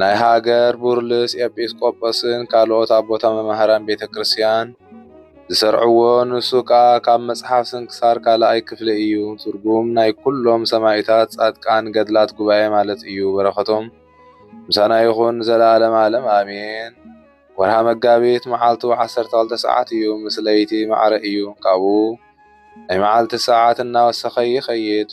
ናይ ሃገር ቡርልስ ኤጲስቆጶስን ካልኦት ኣቦታ መማህራን ቤተ ክርስቲያን ዝሰርዕዎ ንሱ ከኣ ካብ መጽሓፍ ስንክሳር ካልኣይ ክፍሊ እዩ ትርጉም ናይ ኩሎም ሰማይታት ጻድቃን ገድላት ጉባኤ ማለት እዩ በረከቶም ምሳና ይኹን ዘለዓለም ዓለም ኣሜን ወርሃ መጋቢት መዓልቱ 12 ሰዓት እዩ ምስ ለይቲ ማዕረ እዩ ካብኡ ናይ መዓልቲ ሰዓት እናወሰኸ ይኸይድ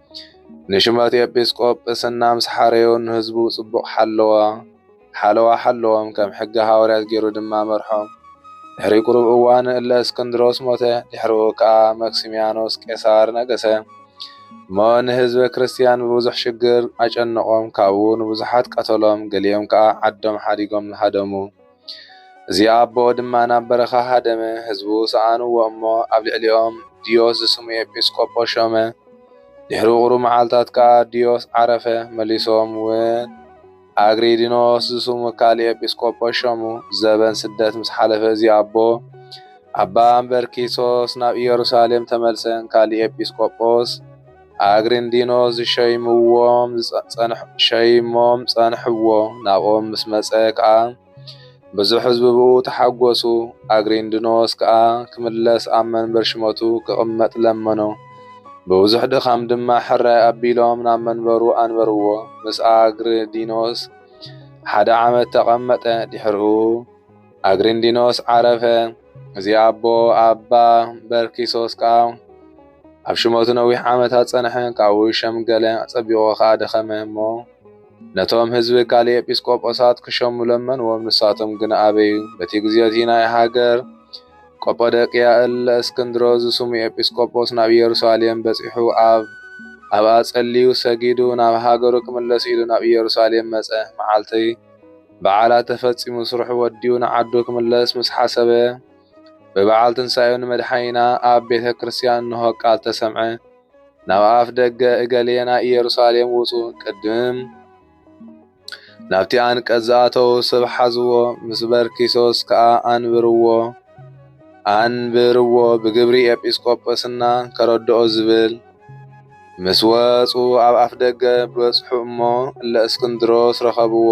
ንሹመት ኤጲስቆጶ ጵስና ምስ ሓረዮ ንህዝቡ ጽቡቕ ሓለዎ ሓለዋ ሓለዎም፣ ከም ሕገ ሃዋርያት ገይሩ ድማ መርሖም። ድሕሪ ቁሩብ እዋን እለ እስክንድሮስ ሞተ፣ ድሕርኡ ከኣ መክሲምያኖስ ቄሳር ነገሰ። እሞ ንህዝበ ክርስትያን ብብዙሕ ሽግር ኣጨነቖም፣ ካብኡ ንብዙሓት ቀተሎም፣ ገሊኦም ከኣ ዓዶም ሓዲጎም ሃደሙ። እዚ ኣቦ ድማ ናብ በረኻ ሃደመ፣ ህዝቡ ሰኣንዎ እሞ ኣብ ልዕሊኦም ድዮስ ዝስሙ ኤጲስቆጶስ ሾመ። ድሕሪ ቁሩብ መዓልታት ከኣ ድዮስ ዓረፈ፣ መሊሶም ውን ኣግሪዲኖስ ዝስሙ ካልእ ኤጲስቆጶስ ሾሙ። ዘበን ስደት ምስ ሓለፈ እዚ ኣቦ ኣባ እምበርኪሶስ ናብ ኢየሩሳሌም ተመልሰ፣ ንካልእ ኤጲስቆጶስ ኣግሪንዲኖ ዝሸይምዎም ሸይሞም ጸንሕዎ። ናብኦም ምስ መጸ ከኣ ብዙሕ ህዝቢ ብኡ ተሓጐሱ። ኣግሪንዲኖስ ከኣ ክምለስ ኣብ መንበር ሽመቱ ክቕመጥ ለመኖ። ብብዙሕ ድኻም ድማ ሕራይ ኣቢሎም ናብ መንበሩ ኣንበርዎ። ምስ ኣግሪንዲኖስ ሓደ ዓመት ተቐመጠ። ድሕርኡ። ኣግሪንዲኖስ ዓረፈ። እዚ ኣቦ ኣባ በርኪሶስ ከኣ ኣብ ሽመቱ ነዊሕ ዓመታት ጸንሐ፣ ካብኡ ሸምገለ፣ ኣጸቢቑ ከኣ ደኸመ እሞ ነቶም ህዝቢ ካልእ ኤጲስቆጶሳት ክሸሙ ለመንዎም፣ ንሳቶም ግን ኣበዩ። በቲ ግዜቲ ናይ ሃገር ቆጶደቅያ እለ እስክንድሮ ዝስሙ ኤጲስቆጶስ ናብ ኢየሩሳሌም በጺሑ ኣብ ኣብኣ ጸልዩ ሰጊዱ ናብ ሃገሩ ክምለስ ኢሉ ናብ ኢየሩሳሌም መጸ። መዓልቲ በዓላት ተፈጺሙ ስርሑ ወዲኡ ንዓዱ ክምለስ ምስ ሓሰበ፣ ብበዓል ትንሳኤኡ ንመድሓኒና ኣብ ቤተ ክርስቲያን እንሆ ቃል ተሰምዐ። ናብ ኣፍ ደገ እገሌ ናይ ኢየሩሳሌም ውጹ፣ ቅድም ናብቲ ኣንቀጽ ዝኣተዉ ስብ ሓዝዎ፣ ምስ በርኪሶስ ከኣ ኣንብርዎ። ኣንብርዎ ብግብሪ ኤጲስቆጶስና ከረድኦ ዝብል ምስ ወጹ ኣብ ኣፍ ደገ በጽሑ እሞ እለ እስክንድሮስ ረኸብዎ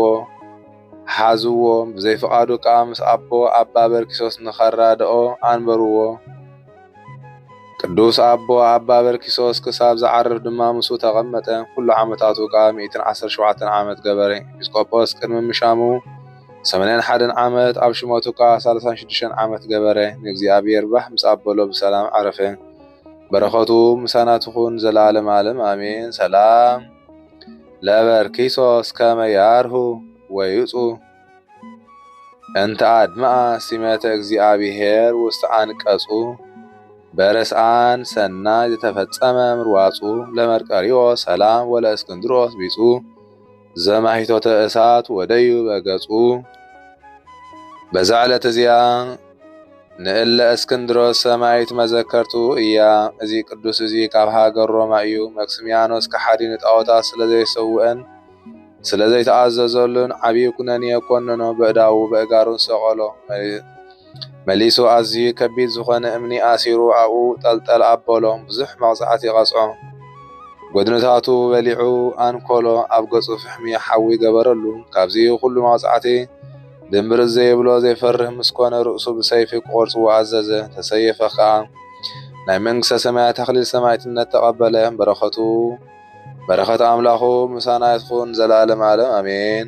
ሓዝዎ ብዘይፍቓዱ ከኣ ምስ ኣቦ ኣባ በርኪሶስ ንኸራድኦ ኣንበርዎ ቅዱስ ኣቦ ኣባ በርኪሶስ ክሳብ ዝዓርፍ ድማ ምስኡ ተቐመጠ ኩሉ ዓመታቱ ከኣ ሚእትን ዓሰርተ ሸውዓተን ዓመት ገበረ ኤጲስቆጶስ ቅድሚ ምሻሙ ሰመንያን ሓደን ዓመት ኣብ ሽመቱ ከኣ ሳልሳን ሽዱሽተን ዓመት ገበረ ንእግዚኣብሔር ባህ ምስ ኣበሎ ብሰላም ዓረፈ በረከቱ ምሳና ትኩን ዘላለም ኣለም ኣሜን ሰላም ለበርኪሶስ ከመ ያርሁ ወይጹ እንተ ኣድመኣ ሲመተ እግዚኣብሔር ውስተ ኣንቀጹ በረስኣን ሰናይ ዝተፈጸመ ምርዋጹ ለመርቀሪዎ ሰላም ወለእስክንድሮስ ቢጹ ዘማሂቶተ እሳት ወደዩ በገጹ። በዛ ዕለት እዚኣ ንእለ እስክንድሮስ ሰማይት መዘከርቱ እያ። እዚ ቅዱስ እዚ ካብ ሃገር ሮማ እዩ። መክስሚያኖስ ከሓዲ ንጣዖታት ስለ ዘይሰውእን ስለ ዘይተኣዘዘሉን ዓብዪ ኩነኔ ኮነኖ፣ በእዳዉ በእጋሩን ሰቐሎ። መሊሱ ኣዝዩ ከቢድ ዝኾነ እምኒ ኣሲሩ ኣብኡ ጠልጠል ኣበሎ፣ ብዙሕ መቕጻዕቲ ቀጽዖ። ጎድንታቱ በሊዑ ኣንኮሎ፣ ኣብ ገጹ ፍሕሚ ሓዊ ገበረሉ። ካብዚ ኹሉ መቕጻዕቲ ድምብርጽ ዘይብሎ ዘይፈርህ ምስ ኮነ ርእሱ ብሰይፊ ክቖርጽዎ ኣዘዘ፣ ተሰየፈ ከኣ። ናይ መንግስተ ሰማያት ኣኽሊል ሰማዕትነት ተቐበለ። በረኸቱ በረኸት ኣምላኹ ምሳና ትኹን ንዘለዓለም ዓለም ኣሜን።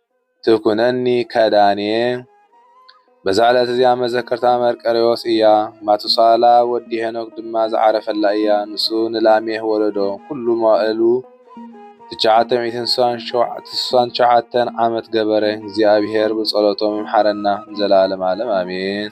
ትኩነኒ ከዳንየ በዛ ዕለት እዚኣ መዘከርታ መርቀሬዎስ እያ ማቱሳላ ወዲ ሄኖክ ድማ ዝዓረፈላ እያ ንሱ ንላሜህ ወለዶ ኩሉ መዋእሉ ትሽዓተ ሚእትን ስሳን ትሽዓተን ዓመት ገበረ እግዚኣብሔር ብጸሎቶም ይምሓረና ንዘለዓለም ዓለም ኣሜን።